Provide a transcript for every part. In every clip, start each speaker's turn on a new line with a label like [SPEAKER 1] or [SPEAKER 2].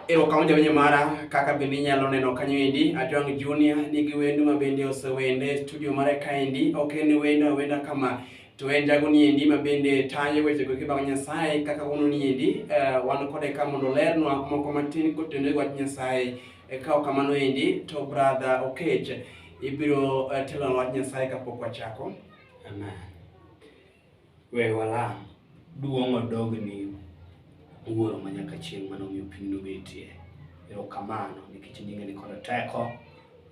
[SPEAKER 1] Erokamano jawinjo mara kaka bende inyalo neno kanyo endi Atwang' Junior nigi wendo ma bende osewende e studio mare kaendi ok en wendo awenda kama to en jago ni endi ma bende tayo weche go kibang' Nyasaye kaka wuono ni endi eh, wan kode ka mondo olernwa moko matin kotenore gi wach Nyasaye Eh, ka ok kamano endi to brother Okech ibiro eh, telonwa wach Nyasaye kapok wachako amen
[SPEAKER 2] We walam. Duong' odog ni Wuoro ma nyaka chieng' mane omiyo piny nobetie. Erokamano nikech nyinge ni kod teko.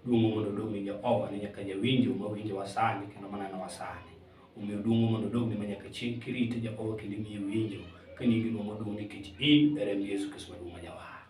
[SPEAKER 2] Duong' mondo odog ni Jehova ni nyaka jawinjo ma winjowa sani kendo manenowa sani. Omiyo duong' mondo odog ni ma nyaka chieng' kirite Jehova kendo imiye winjo ka nyingi duong' oduong' nikech in e remb Yesu Kristo maduong' ma jawar.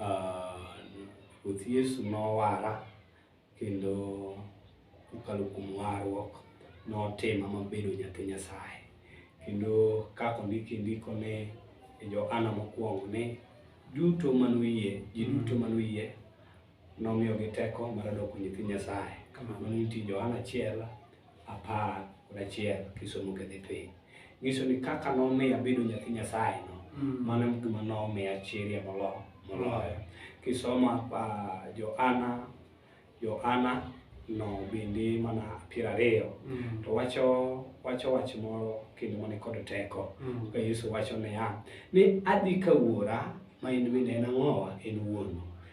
[SPEAKER 2] Ah, Ruoth Yesu nowara kendo kokalo kuom warruok notima mabedo nyathi Nyasaye. Kendo kaka ondiki e ndiko ni e Johana mokwongo ni duto manoyie, ji duto manoyie nomiyogi teko mar doko nyithi Nyasaye. Kamano nitie Johana achiel apar kod achiel kisomo kedhi piny. Nyiso ni kaka nomiya bedo nyathi Nyasaye no, mm. mano gima nomiya chiria moloyo. moloyo. Kisoma uh, Johana Johana no bende mana piero ariyo mm. to wacho wacho wach moro kendo mane kod teko mm. ka Yesu wacho niya ni adhi ka wuora ma in bende en ang'owa en wuonu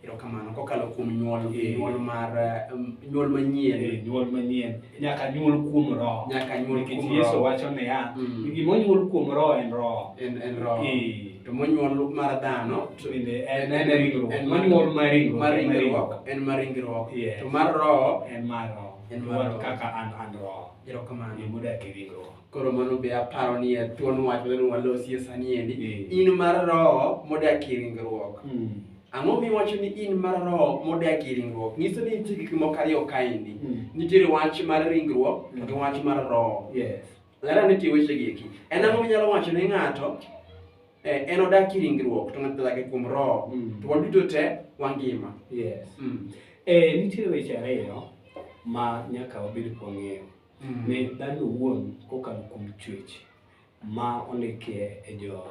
[SPEAKER 1] Erokamano
[SPEAKER 2] kokalo
[SPEAKER 1] kuom nyuol eh. nyuol mar um, nyuol manyien eh, nyuol manyien
[SPEAKER 2] nyaka nyuol kuom roho nyaka nyuol kuom roho Yesu
[SPEAKER 1] wacho niya
[SPEAKER 2] mm. gima onyuol kuom roho en roho en en roho eh.
[SPEAKER 1] to monyuol mar dhano to bende en en
[SPEAKER 2] ringruok en monyuol mar ringruok mar ringruok en mar ringruok
[SPEAKER 1] to mar roho
[SPEAKER 2] en
[SPEAKER 1] mar roho en
[SPEAKER 2] mar kaka
[SPEAKER 1] an an roho
[SPEAKER 2] erokamano mudak
[SPEAKER 1] e ringruok
[SPEAKER 2] koro mano be aparo
[SPEAKER 1] ni e thuon wach mane walosie sani endi mm. in mar roho modak e ringruok mm. ang'o miwacho ni in mar roho modak e ringruok nyiso ni nitie gik moko ariyo kaendi mm. nitiere wach mar ringruok to gi wach mar roho lera
[SPEAKER 2] nitie wechegi
[SPEAKER 1] eki en ang'o minyalo wacho ne ng'ato eh, en odak e ringruok to ng'ato dak e kuom roho to waduto te wangima
[SPEAKER 2] eh, nitiere weche ariyo ma nyaka wabed kwang'eyo mm. ne dhano owuon kokalo kuom chwech ma ondikie e jo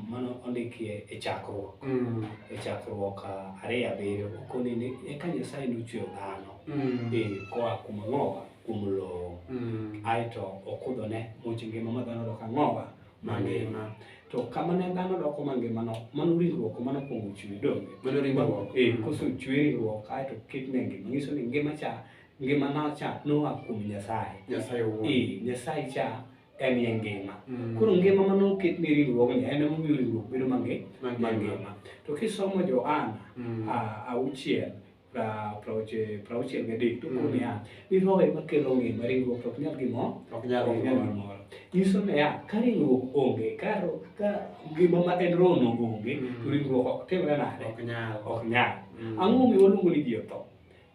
[SPEAKER 2] mano ondikie e chakruok mm. e chakruok ariyo abiriyo okoni ni eka nyasaye nochweyo dhano mm. e koa kuom ang'owa kuom lowo mm. aeto okudhone much ngima ma dhano dok ang'owa mangima mm. to kama ne dhano doko mangimano mano riwruok mano kuongo chwe donge mano riwruok eh,
[SPEAKER 1] koso chwe
[SPEAKER 2] riwruok aeto ketne ngima nyiso ni ngima cha Ngima na cha noa kuom Nyasaye. Nyasaye owuon. Eh,
[SPEAKER 1] Nyasaye cha
[SPEAKER 2] en ye ngima. Mm. Koro ngima ma noket ne riwruogni en emomiyo riwruok bedo mange Mangima. mangima. To kisomo Johana Mm. a- auchiel pra- praoche- prauchiel gadek to Mm. koro niya ni roho ema kelo ngima ringruok to ok nyal gimoro Ok nyal ok nyal gimoro. gimoro. Nyiso niya ka ringruok onge ka ro- ka ngima ma en rohono onge Mm. to ringruok ok timre nade Ok nyal. ok nyal. Mm. Ang'o momiyo waluongo ni ji otho?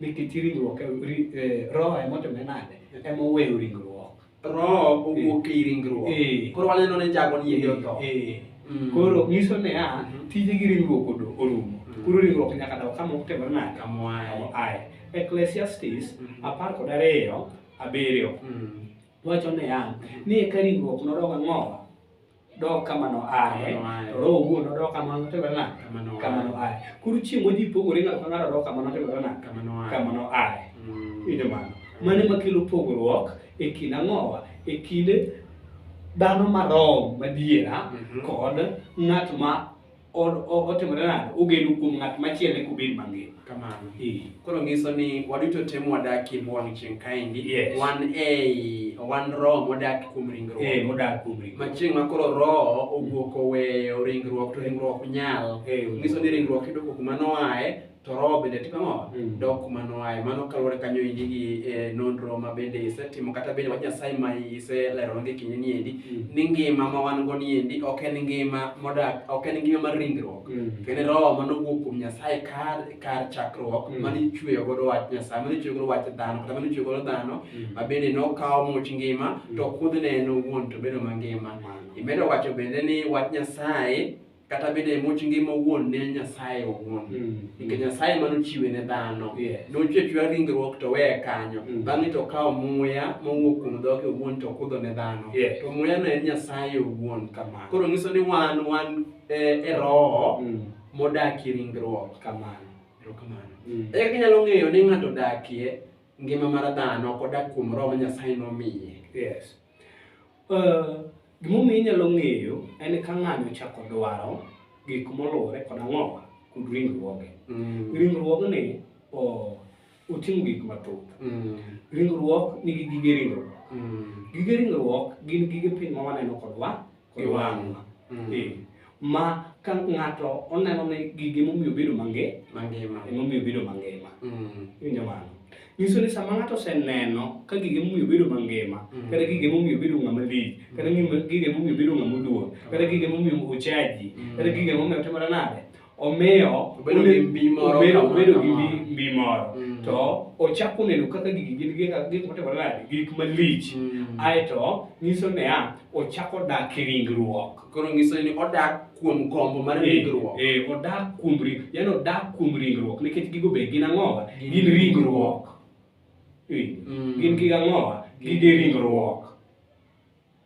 [SPEAKER 2] Nikech ringruok em- ri- eh, roho emotime nade? Emoweyo ringruok. Roho
[SPEAKER 1] owuok ei ringruok. Eh. Koro waneno ni jago ni yedhi otho. Eh. Mm. Koro
[SPEAKER 2] nyiso niya, Mhm. tije gi ringruok odo- orumo. Mhm. Koro ringruok nyaka daw kama otimore nade? Kamoaye. Aye. Ecclesiastes Mhm. apar kod ariyo abiriyo Mm. wacho niya, ni eka ringruok nodog ang'owa dok kama noaye to roho owuon odok kama notimore nade kama noaye koro chieng' modi pogore ng'ato ka ng'ato odok kama notimore nade kama noaye ine mm. mano mane makelo pogruok e kind ang'owa e kind dhano marom madiera mhm. kod ng'at ma otimore nade ogeno kuom ng'at machielo eka obed mangima kamano
[SPEAKER 1] koro ngiso ni waduto temo wadakie mwang' chieng' kaendi wan ei wan roho modak kuom ringruok eh, ma chieng'
[SPEAKER 2] ma koro roho
[SPEAKER 1] owuok oweyo ringruok to ringruok nyal ngiso ni ringruok idoko kuma noae to roho bende timo ang'o mm. dok kuma noaye mano kaluwore kanyo endi gi e, nonro ma bende isetimo kata bende wach nyasaye ma iseleronegi kinde ni endi mm. ni ngima ma wan go ni endi ok en ngima modak ok en ngima mar ringruok mm. to en roho ma nowuok kuom nyasaye kar kar chakruok mm. mane ichweyo godo wach nyasaye mane ichweyo godo wach dhano kata mane ichweyo godo dhano mm. ma bende nokawo much ngima mm. to kudhne en owuon to bedo mangima mm. imedo wacho bende ni wach nyasaye kata bende much ngima owuon ne Nyasaye owuon mm. nikech mm. Nyasaye mano chiwe ne dhano yes. nochwe chwe ringruok to weye kanyo mm. bang'e to kawo muya mowuok kuom dhoge owuon to kudho ne dhano yes. to muya no en Nyasaye owuon kamano koro nyiso ni wan wan e, e roho mm. modakie ringruok kamano erokamano mm. eka kinyalo ng'eyo ni ng'ato dakie ngima mar dhano kodak kuom roho ma Nyasaye nomiye yes.
[SPEAKER 2] Gimomiyo inyalo ng'eyo en ka ng'ani ochako dwaro gik moluwore kod ang'owa kod ringruoge. Mm. Ringruogni oting'o gik mathoth. Mm. Ringruok nigi gige ringruok. Mm. Gige ringruok gin gige piny ma waneno kodwa. kiwango mm. eh, ma ka ng'ato oneno ni gigi momiyo bedo mange mangima emomiyo bedo mangima mm. iwinjo mano nyiso ni sama ng'ato oseneno ka gige momiyo bedo mangima mm. kata gige momiyo bedo ng'ama lich kata gige momiyo bedo ng'ama oduong kata gige momiyo ochaji kata gige momiyo otimore nade omiyo obedo gi mbi moro obedo, obedo gi mbi moro mm. to ochako neno kaka gigi gin gik gik motimore nade gik malich mm. aeto nyiso niya ochako dak e ringruok koro nyiso ni odak
[SPEAKER 1] kuom gombo mar eh, ringruok eh, eh odak kuom
[SPEAKER 2] ringruok yani odak kuom ringruok nikech gigo be gin ang'owa gin ringruok eh, mm. gin gigo ang'owa gige ringruok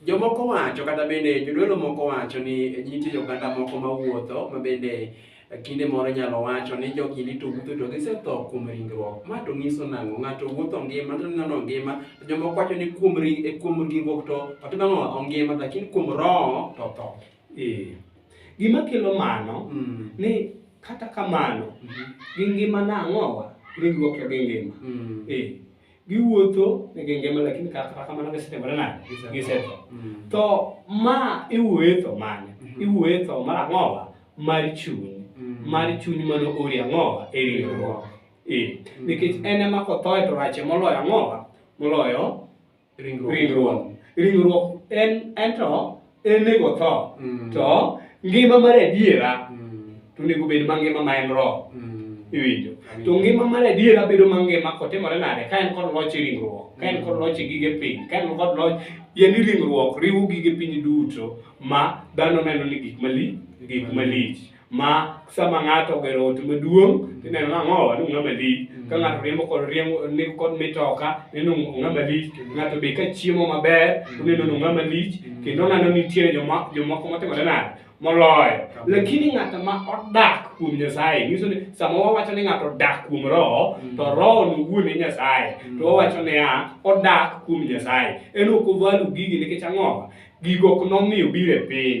[SPEAKER 1] Jomoko wacho kata bende jodolo moko wacho ni nitie oganda moko mawuotho ma bende kinde moro nyalo wacho ni jogi ni to wuotho to gisetho kuom ringruok. Ma to nyiso nang'o? Ng'ato wuotho ngima to neno ngima, to jomoko wacho ni kuom ring e kuom ringruok to to nang'o ongima lakini kuom roho to tho. Eh.
[SPEAKER 2] Gima kelo mano Mm. ni kata kamano Mhm. gi ngima nang'owa ringruok to gi ngima. Mm. Eh. giwuotho e genge ma lakini kata kamano gisetimore nade gisetho mm. to ma iwuoye tho mane mm-hmm. iwuoye tho mar ang'owa mar chuny mm. mar chuny mano ori ang'owa e riwruok e mm. nikech en ema kothoe to rache moloyo ang'owa moloyo ringruok ringruok en ento en nego tho mm. to ngima mar adiera mm. to onego bed mangima ma en roho mm. iwinjo to ngima mar adiera bedo mangima kotimore nade ka en kod loch e ringruok ka en kod loch e gige piny ka en kod loch yani ringruok riwo gige piny duto ma dhano neno ni gik mali gik malich ma sama ng'ato ogero ot maduong' tineno ni ang'owa ni ong'ama lich mm. ka ng'ato riembo kod riembo ni kod mitoka neno ong'ama lich mm. ng'ato be ka chiemo maber mm. oneno ni ong'ama lich kendo oneno nitiere jomoko motimore nade moloyo lakini ng'ato ma odak kuom nyasaye nyiso ni sama wawacho ni ng'ato odak kuom roho to roho no wuon e nyasaye to wawacho niya odak kuom nyasaye en ok ovalu gigi nikech ang'owa gigo ok nomiyo biro e piny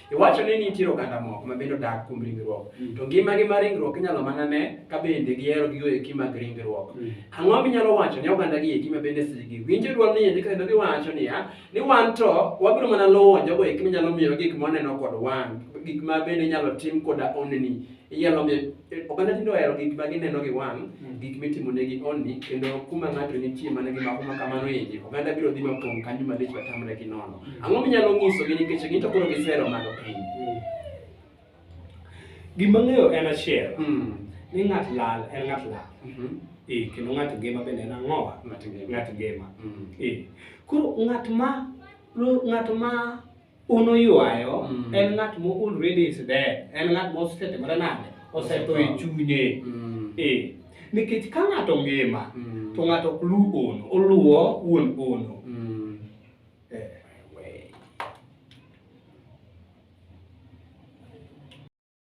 [SPEAKER 1] Iwacho ni nitie oganda moko ma bende odak kuom ringruok, mm. to ngimagi mar ringruok inyalo mana ne ka bende gihero gigo eki mag ringruok. Mm. Ang'o minyalo wacho ne oganda gi eki ma bende sigi winjo dwol ni endi kendo giwacho niya ni wan to wabiro mana luwo jogo eki minyalo miyo gik moneno kod wang' gik ma bende inyalo tim koda oneni Inyalo miyo oganda tinde ohero gik ma gineno gi wang', mm. gik mitimo ne gi onni, kendo kuma ng'ato nitie mana gi mako ma kamano endi, oganda biro dhi mapong' kanyo malich matamre gi nono. Mm. Ang'o minyalo nyisogi nikech gin to koro gisero malo piny? Mm.
[SPEAKER 2] Gima ng'eyo en achiel, ni ng'at lal en ng'at lal. Mm-hmm. Eh, kendo ng'at ngima bende en ang'owa? Ng'at ngima. Eh, koro ng'at ma ng'at ma Unuywayo mm. en ng'at mo already is dead, en ng'at mo osetimore nade? Osetho e chunye. Mm. Eh. Nikech ka ng'ato ngima mm. to ng'ato ok luw ono, oluwo wuon ono. Mm. Eh.